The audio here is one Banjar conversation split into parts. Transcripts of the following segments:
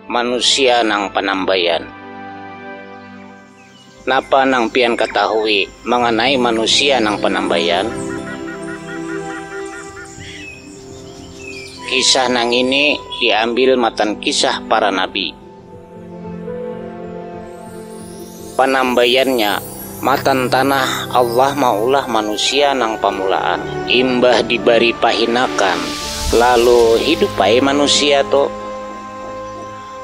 Manusia nang panambaian. Napa nang pian katahui manganai manusia nang panambaian? Kisah nangini diambil matan kisah para nabi. Panambaiannya, matan tanah Allah maulah manusia nang pamulaan. Imbah dibari pahinakan, lalu hidup ai manusia tu.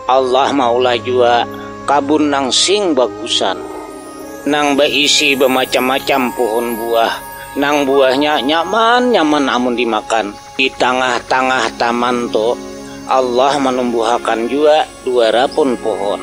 Allah maulah jua kabun nang sing bagusan, nang baisi bamacam-macam puhun buah, nang buahnya nyaman-nyaman amun dimakan. Di tangah-tangah taman tu, Allah manumbuhakan jua dua rapun puhun.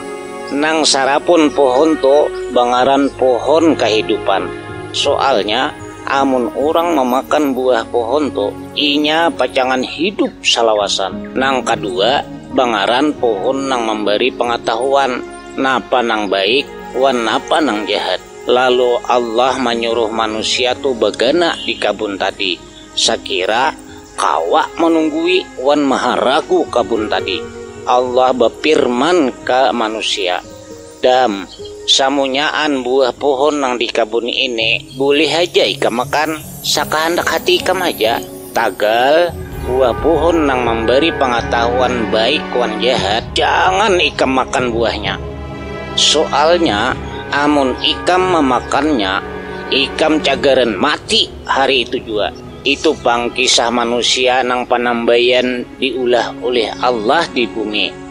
Nang sarapun puhun tu bangaran puhun kahidupan. Soalnya, amun urang mamakan buah puhun tu, inya pacangan hidup salawasan. Nang kadua bangaran puhun nang mambari pangatahuan napa nang baik wan napa nang jahat. Lalu Allah manyuruh manusia tu bagana di kabun tadi. Sakira kawa manunggui wan maharagu kabun tadi, Allah bafirman ka manusia, Dam, samunyaan buah pohon nang di kabun ini bulih haja ikam makan sakahandak hati ikam haja, tagal buah pohon nang mambari pangatahuan baik wan jahat jangan ikam makan buahnya. Soalnya amun ikam mamakannya, ikam cagaran mati. hari itu jua. Itu pang kisah manusia nang panambaian diulah ulih Allah di bumi.